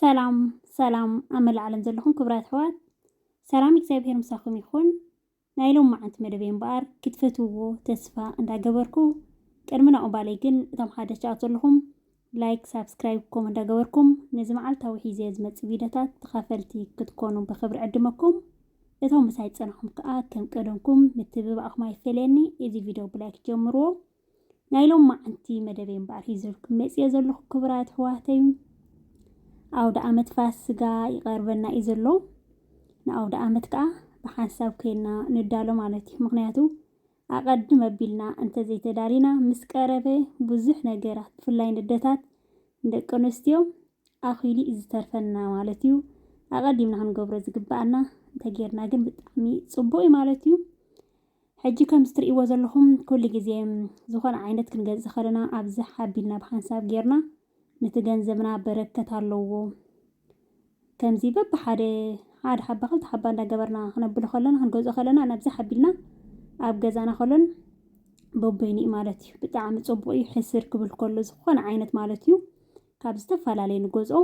ሰላም ሰላም ኣብ መላእ ዓለም ዘለኹም ክብራት ኣሕዋት ሰላም እግዚኣብሔር ምሳኹም ይኹን። ናይ ሎም መዓንቲ መደበይ እምበኣር ክትፈትውዎ ተስፋ እንዳገበርኩ ቅድሚ ናኡ ባለይ ግን እቶም ሓደሽ ጫት ዘለኹም ላይክ ሳብስክራይብ ኮም እንዳገበርኩም ነዚ መዓልታዊ ሒዘ ዝመፅእ ቪድዮታት ተኻፈልቲ ክትኮኑ ብክብሪ ዕድመኩም እቶም ምሳይ ፀናኹም ከዓ ከም ቀደምኩም ምትብባዕኹም ኣይፈለየኒ እዚ ቪድዮ ብላይክ ጀምርዎ ናይ ሎማዓንቲ መደበይ እምበኣር ሒዘልኩም መጺኤ ዘለኹ ክቡራት ኣሕዋተይ ኣውደኣመት ፋስጋ ይቐርበና እዩ ዘሎ። ንኣውደኣመት ከኣ ብሓንሳብ ኮይና ንዳሎ ማለት እዩ። ምክንያቱ ኣቐድም ኣቢልና እንተዘይተዳሊና ምስ ቀረበ ብዙሕ ነገራት ብፍላይ ንደታት ንደቂ ኣንስትዮ ኣኺሉ እዩ ዝተርፈና ማለት እዩ። ኣቐዲምና ክንገብሮ ዝግበኣና እንተጌርና ግን ብጣዕሚ ጽቡቕ እዩ ማለት እዩ። ሕጂ ከምዚ ትርእይዎ ዘለኹም ኩሉ ግዜ ዝኾነ ዓይነት ክንገዝእ ከለና ኣብዚ ሓቢልና ብሓንሳብ ጌርና ነቲ ገንዘብና በረከት ኣለዎ ከምዚ በብሓደ ሓደ ሓባ ክልተ ሓባ እንዳገበርና ክነብሎ ከለና ክንገዝኦ ከለና ናብዚ ሓቢልና ኣብ ገዛና ከሎን በበይኑ እዩ ማለት እዩ ብጣዕሚ ጽቡቅ እዩ ሕስር ክብል ከሎ ዝኾነ ዓይነት ማለት እዩ ካብ ዝተፈላለየ ንገዝኦ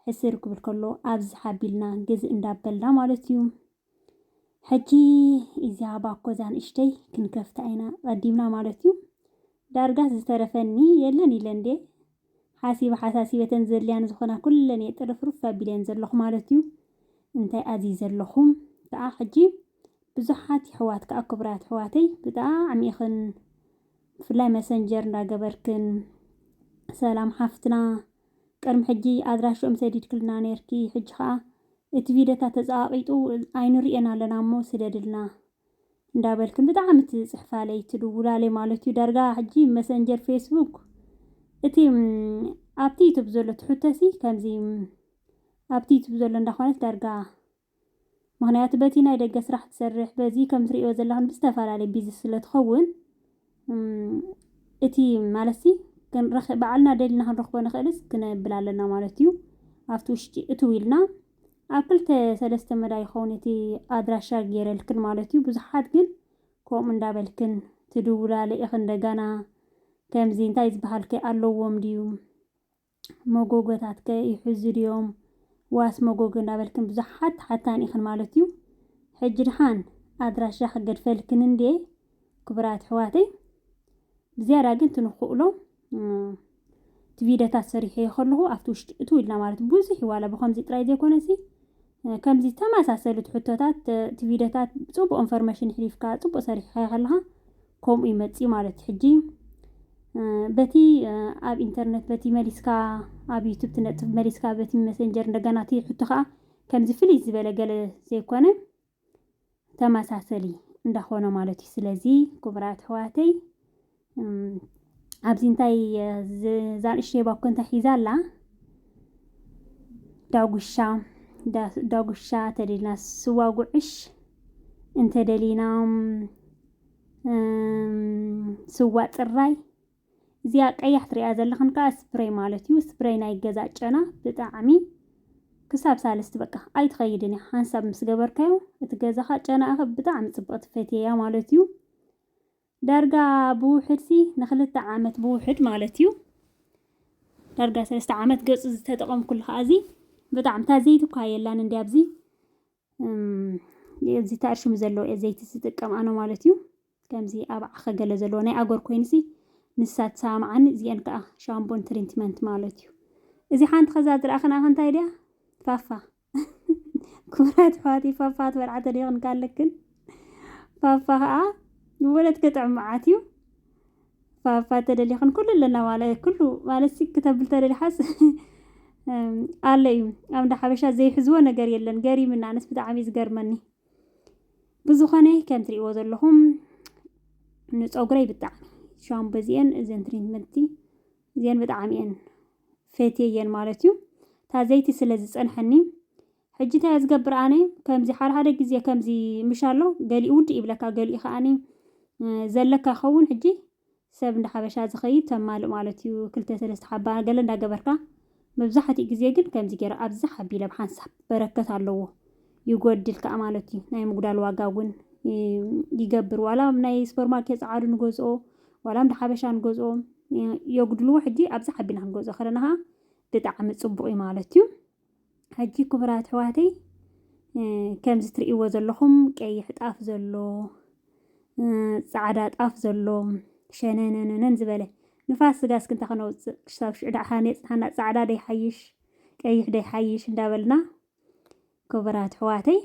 ሕስር ክብል ከሎ ኣብዚ ሓቢልና ግዝእ እንዳበልና ማለት እዩ ሕጂ እዚኣ ባኮ እዛ ንእሽተይ ክንከፍታ ኢና ቀዲምና ማለት እዩ ዳርጋስ ዝተረፈኒ የለን ኢለ እንዴ ሓሲበ ሓሳሲበ እተን ዘድልያኒ ዝኾና ኩለን እየ ጥርፍርፍ ኣቢለየን ዘለኹ ማለት እዩ እንታይ ኣዚዘ ኣለኹ ከኣ ሕጂ ብዙሓት ይሕዋት ከኣ ክቡራት ኣሕዋተይ ብጣዕሚ ኢኽን ብፍላይ መሰንጀር እንዳገበርክን ሰላም ሓፍትና ቅድሚ ሕጂ ኣድራሽኦም ሰዲድክልና ኔርኪ ሕጂ ከኣ እቲ ቪድዮታት ተጸቃቂጡ ኣይንርእዮን ኣለና እሞ ስደድልና እንዳበልክን ብጣዕሚ ትጽሕፋለይ ትድውላለይ ማለት እዩ ዳርጋ ሕጂ መሰንጀር ፌስቡክ እቲ ኣብቲ ዩቱብ ዘሎ ትሕቶሲ ከምዚ ኣብቲ ዩቱብ ዘሎ እንዳኮነት ዳርጋ ምክንያቱ በቲ ናይ ደገ ስራሕ ትሰርሕ በዚ ከም ትርእዮ ዘለክን ብዝተፈላለየ ቢዚ ስለ ትከውን እቲ ማለትሲ ክንረክ ባዕልና ደሊና ክንረክቦ ንክእልስ ክነብል ኣለና ማለት እዩ ኣብቲ ውሽጢ እትው ኢልና ኣብ ክልተ ሰለስተ መዳይ ይኸውን እቲ ኣድራሻ ገይረልክን ማለት እዩ ብዙሓት ግን ከምኡ እንዳበልክን ትድውላለ ኢክን ደጋና ከምዚ እንታይ ዝበሃል ከ ኣለዎም ድዩ መጎጎታት ከ ይሕዙ ድዮም ዋስ መጎጎ እንዳበልክን ብዙሓት ተሓታኒ ኢኽን ማለት እዩ ሕጂ ድሓን ኣድራሻ ክገድፈልክን እንድየ ክቡራት ኣሕዋተይ ብዝያዳ ግን ትንክእሎ እቲ ቪድዮታት ሰሪሐዮ ከለኹ ኣብቲ ውሽጢ እትው ኢልና ማለት ብዙሕ ዋላ ብከምዚ ጥራይ ዘይኮነሲ ከምዚ ተማሳሰሉት ሕቶታት እቲ ቪድዮታት ጽቡቅ እንፎርመሽን ሕሊፍካ ጽቡቅ ሰሪሕካዮ ከለኻ ከምኡ እዩ መጺኡ ማለት እዩ ሕጂ በቲ ኣብ ኢንተርነት በቲ መሊስካ ኣብ ዩቱብ ትነጥፍ መሊስካ በቲ መሰንጀር እንደገና እቲ ሕቶ ከዓ ከምዚ ፍልይ ዝበለ ገለ ዘይኮነ ተመሳሰሊ እንዳኾነ ማለት እዩ። ስለዚ ክቡራት ኣሕዋተይ ኣብዚ እንታይ ዛንእሽተይ ባኮ እንታይ ሒዛ ኣላ ዳጉሻ ዳጉሻ ተደሊና ስዋ ጉዕሽ እንተደሊና ስዋ ፅራይ እዚኣ ቀያሕ ትሪኣ ዘለኽን ከዓ ስፕሬይ ማለት እዩ ስፕሬይ ናይ ገዛ ጨና ብጣዕሚ ክሳብ ሳልስቲ በቃ ኣይትኸይድን እያ ሓንሳብ ምስ ገበርካዮ እቲ ገዛኻ ጨናእኸ ብጣዕሚ ፅብቕቲ ፈትየያ ማለት እዩ ዳርጋ ብውሕድ ሲ ንክልተ ዓመት ብውሕድ ማለት እዩ ዳርጋ ሰለስተ ዓመት ገፁ ዝተጠቐምኩሉ ከዓ እዚ ብጣዕሚ እታ ዘይቲ እኳ የላን እንዲ ኣብዚ እዚ ታእርሽሙ ዘለዎ ዘይቲ ዝጥቀም ኣነ ማለት እዩ ከምዚ ኣብ ዓኸ ገለ ዘለዎ ናይ ኣጎር ኮይኑሲ ንሳ ትሰማማዓኒ እዚኤን ከኣ ሻምቦን ትሪንትመንት ማለት እዩ እዚ ሓንቲ ከዛ ዝረኣኽን ኣኸ እንታይ ድያ ፋፋ ክብራት ኣሕዋተይ ፋፋ ትበልዓ ተደይኽን ካለክን ፋፋ ከኣ ንወለት ክጥዕም መዓት እዩ ፋፋ ተደሊኽን ኩሉ ኣለና ማለት ኩሉ ማለት ሲ ክተብል ተደሊሓስ ኣሎ እዩ ኣብ እንዳ ሓበሻ ዘይሕዝዎ ነገር የለን ገሪምና ኣነስ ብጣዕሚ እዩ ዝገርመኒ ብዝኾነ ከም ትሪእዎ ዘለኹም ንፀጉረይ ብጣዕሚ ሻምፖ እዚአን እዘን ትሪትመንቲ እዚአን ብጣዕሚ እየን ፈትየየን ማለት እዩ እታ ዘይቲ ስለ ዝፀንሐኒ ሕጂ እንታይ እየ ዝገብር ኣነ ከምዚ ሓደ ሓደ ግዜ ከምዚ ምሻ ኣሎ ገሊኡ ውድእ ይብለካ ገሊኡ ከዓኒ ዘለካ ይኸውን ሕጂ ሰብ እንዳ ሓበሻ ዝኸይድ ተማልእ ማለት እዩ ክልተ ሰለስተ ሓባ ገለ እንዳ ገበርካ መብዛሕቲኡ ግዜ ግን ከምዚ ጌረ ኣብ ዛሕ ኣቢለ ብ ሓንሳብ በረከት ኣለዎ ይጎድል ካኣ ማለት እዩ ናይ ምጉዳል ዋጋ ውን ይገብር ዋላ ኣብ ናይ ስፖር ማርኬት ጻዓዱ ንገዝኦ ዋላ ኣብ እንዳ ሓበሻ ንገዝኦ የጉድልዎ ሕጂ ኣብ ዛሕ ኣቢልና ክንገዝኦ ከለና ካኣ ብጣዓሚ ጽቡቅ እዩ ማለት እዩ። ሕጂ ክቡራት ኣሕዋተይ ከምዚ ትርእይዎ ዘለኹም ቀይሕ ጣፍ ዘሎ ጻዕዳ ጣፍ ዘሎ ሸነነነነን ዝበለ ንፋስ ስጋ እስኪ እንታይ ከነውፅእ ክሳብ ሽዑ ደኣ ከኣ የፅንሓና ጻዕዳ ደይሓይሽ ቀይሕ ደይሓይሽ እንዳበልና ክቡራት ኣሕዋተይ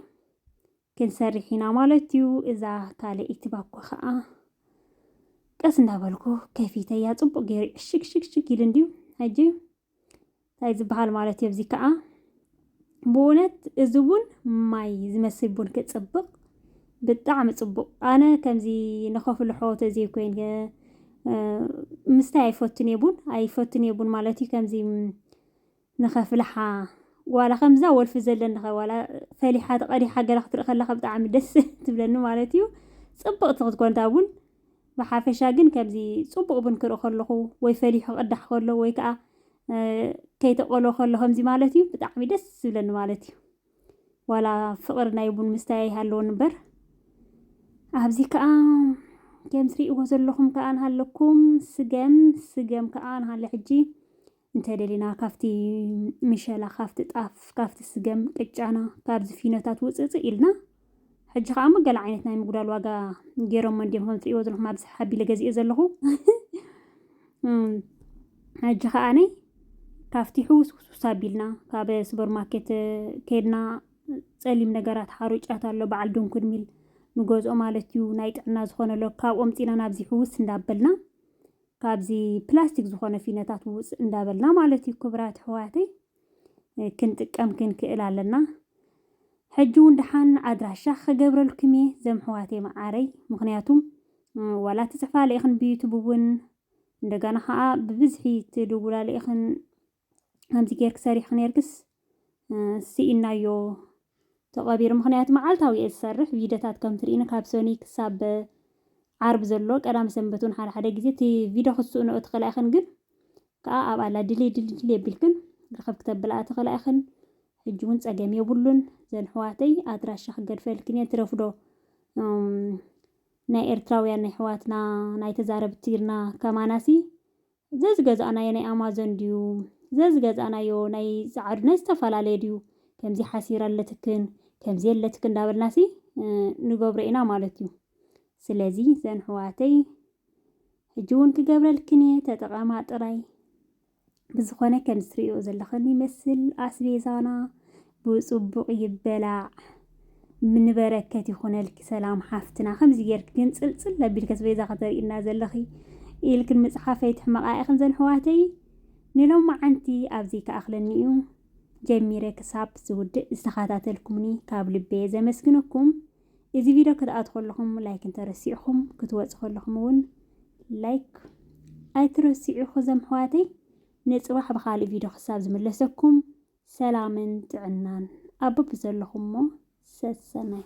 ክንሰርሕ ኢና ማለት እዩ። እዛ ካልኣይቲ ባኮ ከዓ ቀስ እንዳበልኩ ከፊተያ ፅቡቅ ገይሩ ዕሽግሽግሽግ ኢሉ እንድዩ ሕጂ እንታይ ዝበሃል ማለት እዩ? እዚ ከዓ ብእውነት እዚ ቡን ማይ ዝመስል ቡን ክፅብቕ ብጣዕሚ ፅቡቕ ኣነ ከምዚ ንኸፍሉ ሐወተ ዘይኮይን ምስታይ ኣይፈቱን እየ ቡን ኣይፈቱን እየ ቡን ማለት እዩ ከምዚ ንኸፍልሓ ዋላ ከምዛ ወልፊ ዘለኒ ኸ ዋላ ፈሊሓ ተቐዲሓ ገለ ክትርኢ ከለኻ ብጣዕሚ ደስ ትብለኒ ማለት እዩ ፅብቕቲ ክትኮን እታ ቡን ብሓፈሻ ግን ከምዚ ጽቡቕ ቡን ክርኢ ከለኹ ወይ ፈሊሑ ክቕዳሕ ከሎ ወይ ከኣ ከይተቐሎ ከሎ ከምዚ ማለት እዩ ብጣዕሚ ደስ ዝብለኒ ማለት እዩ። ዋላ ፍቕሪ ናይ ቡን ምስታይ ኣይሃለወኒ እምበር ኣብዚ ከኣ ከም ትርእይዎ ዘለኹም ከኣ ንሃለኩም ስገም ስገም ከኣ ንሃለ ሕጂ እንተደሊና ካብቲ ምሸላ፣ ካብቲ ጣፍ፣ ካብቲ ስገም ቅጫና፣ ካብዚ ፊኖታት ውጽእጽእ ኢልና ሕጂ ከኣ እሞ ገለ ዓይነት ናይ ምጉዳል ዋጋ ገይሮሞ እንድዮም ከም ትርእይዎ ዘለኹም ኣብዚ ሓቢለ ገዚኦ ዘለኹ ሕጂ ከኣኒ ካብቲ ሕውስውስውስ ኣቢልና ካብ ሱፐር ማርኬት ከድና ፀሊም ነገራት ሓሩጫት ኣሎ በዓል ድንኩን ሚል ንገዝኦ ማለት እዩ ናይ ጥዕና ዝኾነ ኣሎ ካብኦም ፂና ናብዚ ሕውስ እንዳበልና ካብዚ ፕላስቲክ ዝኾነ ፊነታት ውፅእ እንዳበልና ማለት እዩ ክብራት ኣሕዋተይ ክንጥቀም ክንክእል ኣለና ሕጂ እውን ድሓን ኣድራሻ ክገብረልኩም እየ ዘም ኣሕዋተይ መዓረይ ምክንያቱም ዋላ ትፅሕፋለ ኢኽን ብዩቱብ እውን እንደገና ከዓ ብብዝሒ ትድውላለ ኢኽን ከምዚ ጌርኪ ሰሪሕኪ ኔርክስ ስኢናዮ ተቐቢሩ። ምክንያቱ መዓልታዊ እየ ዝሰርሕ ቪድዮታት ከም ትርእኒ ካብ ሰኑይ ክሳብ ዓርቢ ዘሎ ቀዳመ ሰንበት እውን ሓደ ሓደ ግዜ እቲ ቪድዮ ክትስእንኦ ትኽእላ ኢኽን ግን ከዓ ኣብኣ ኣላ ድልይ ድልይ ድልይ ኣቢልክን ርኽብ ክተብላ ትኽእላ ኢኽን። ሕጂ እውን ፀገም የብሉን ዘን ሕዋተይ ኣድራሻ ክገድፈልክን እየ ትረፍዶ ናይ ኤርትራውያን ናይ ሕዋትና ናይ ተዛረብቲ ትግርና ከማናሲ ዘዝገዛእናዮ ናይ ኣማዞን ድዩ ዘዝገዛእናዮ ናይ ጸዓዱ ናይ ዝተፈላለየ ድዩ ከምዚ ሓሲር ኣለትክን ከምዚ የለትክን እንዳበልናሲ ንገብሮ ኢና ማለት እዩ። ስለዚ ዘንሕዋተይ ሕጂ እውን ክገብረልክን እየ ተጠቐማ ጥራይ። ብዝኾነ ከምዚ ትርእዮ ዘለኽን ይመስል ኣስቤዛና ብጽቡቅ ይበላዕ ንበረከት ይኩነልኪ ሰላም ሓፍትና ከምዚ ጌርኪ ግን ጽልጽል ኣቢልኪ እቲ በይዛ ከተርእይና ዘለኺ ኢልክን ምጽሓፍ ኣይትሕመቃ ኢኽን ዘንሕዋተይ ንሎማዓንቲ ኣብዚ ክኣኽለኒ እዩ ጀሚረ ክሳብ ዝውድእ ዝተኻታተልኩምኒ ካብ ልበየ ዘመስግነኩም እዚ ቪድዮ ክትኣቱ ከለኹም ላይክ እንተረሲዕኹም ክትወጽ ከለኹም እውን ላይክ ኣይትረሲዑ ዘምሕዋተይ ንጽባሕ ብኻልእ ቪድዮ ክሳብ ዝምለሰኩም ሰላምን ጥዕናን ኣብ በብዘለኹሞ ሰሰናዩ።